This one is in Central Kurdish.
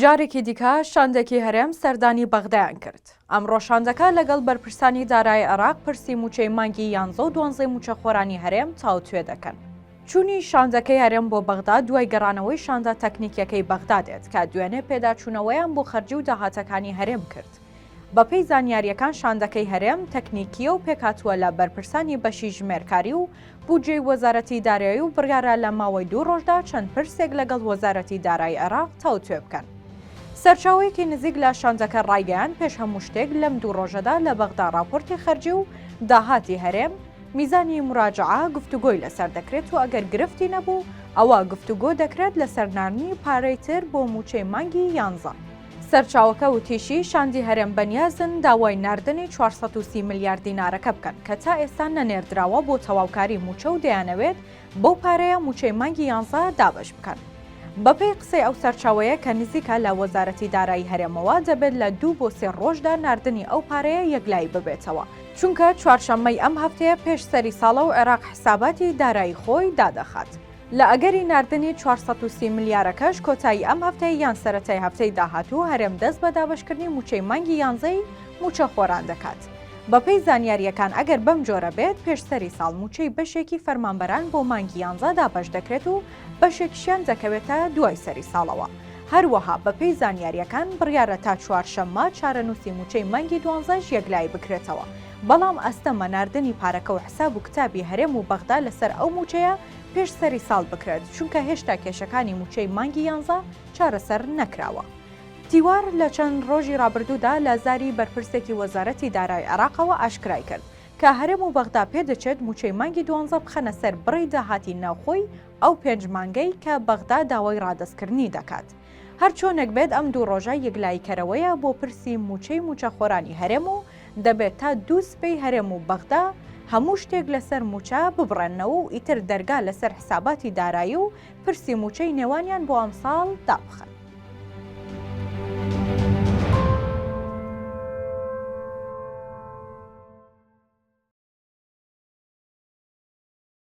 جارێکی دیکە شاندێکی هەرێم سەردانی بەغدایان کرد. ئەمڕۆ شاندەکە لەگەڵ بەرپرسانی دارایی عێراق پرسی مووچەی مانگی یانزە و دوانزەی مووچەخۆرانی هەرێم تاوتوێ دەکەن. چوونی شاندەکەی هەرێم بۆ بەغدا دوای گەڕانەوەی شاندە تەکنیکیەکەی بەغدا دێت کە دوێنێ پێداچوونەوەیان بۆ خەرجی و داهاتەکانی هەرێم کرد. بەپێی زانیارییەکان شاندەکەی هەرێم تەکنیکییە و پێکهاتووە لە بەرپرسانی بەشی ژمێرکاری و بودجەی وەزارەتی دارایی و بڕیارە لە ماوەی دوو ڕۆژدا چەند پرسێک لەگەڵ وەزارەتی دارایی عێراق تاوتوێ بکەن. سەرچاوەیەکی نزیک لە شاندەکە ڕایگەیاند پێش هەموو شتێک لەم دوو ڕۆژەدا لە بەغدا ڕاپۆرتی خەرجی و داهاتی هەرێم، میزانی موراجەعە، گفتوگۆی لەسەر دەکرێت و ئەگەر گرفتی نەبوو ئەوا گفتوگۆ دەکرێت لەسەر ناردنی پارەی تر بۆ مووچەی مانگی یانزە. سەرچاوەکە وتیشی، شاندی هەرێم بەنیازن داوای ناردنی چوار سەد و سی ملیار دینارەکە بکەن کە تا ئێستا نەنێردراوە بۆ تەواوکاری مووچە و دەیانەوێت بەو پارەیە مووچەی مانگی یانزە دابەش بکەن. بەپێی قسەی ئەو سەرچاوەیە کە نزیکە لە وەزارەتی دارایی هەرێمەوە، دەبێت لە دوو بۆ سێ رۆژدا ناردنی ئەو پارەیە یەکلایی ببێتەوە، چونکە چوارشەممەی ئەم هەفتەیە پێش سەری ساڵە و عێراق حساباتی دارایی خۆی دادەخات. لە ئەگەری ناردنی چوار سەد و سی ملیارەکەش کۆتایی ئەم هەفتەی یان سەرەتای هەفتەی داهاتوو هەرێم دەست بە دابەشکردنی مووچەی مانگی یانزەی مووچەخۆران دەکات. بەپێی زانیارییەکان ئەگەر بەم جۆرە بێت پێش سەری ساڵ مووچەی بەشێکی فەرمانبەران بۆ مانگی یانزە دابەش دەکرێت و بەشێکشیان دەکەوێتە دوای سەری ساڵەوە. هەروەها بەپێی زانیارییەکان بڕیارە تا چوارشەممە چارەنووسی مووچەی مانگی دوانزەش یەکلایی بکرێتەوە بەڵام ئەستەمە ناردنی پارەکە و حساب و کتابی هەرێم و بەغدا لەسەر ئەو مووچەیە پێش سەری ساڵ بکرێت چونکە هێشتا کێشەکانی موچەی مانگی یانزە چارەسەر نەکراوە. تیوار لە چەند ڕۆژی ڕابردوودا لە زاری بەرپرسێکی وەزارەتی دارای عێراقەوە ئاشکرای کرد، کە هەرێم و بەغدا پێدەچێت موچەی مانگی دوانزە بخەنە سەر بڕی داهاتی ناوخۆی ئەو پێنج مانگەی کە بەغدا داوای ڕادەستکردنی دەکات. هەرچۆنێک بێت ئەم دوو ڕۆژە یەکلاییکەرەوەیە بۆ پرسی مووچەی مووچەخۆرانی هەرێم و دەبێت تا دوو سبەی هەرێم و بەغدا هەموو شتێک لەسەر مووچە ببڕێننەوە و ئیتر دەرگا لەسەر حساباتی دارایی و پرسی مووچەی نێوانیان بۆ ئەمساڵ دابخەن.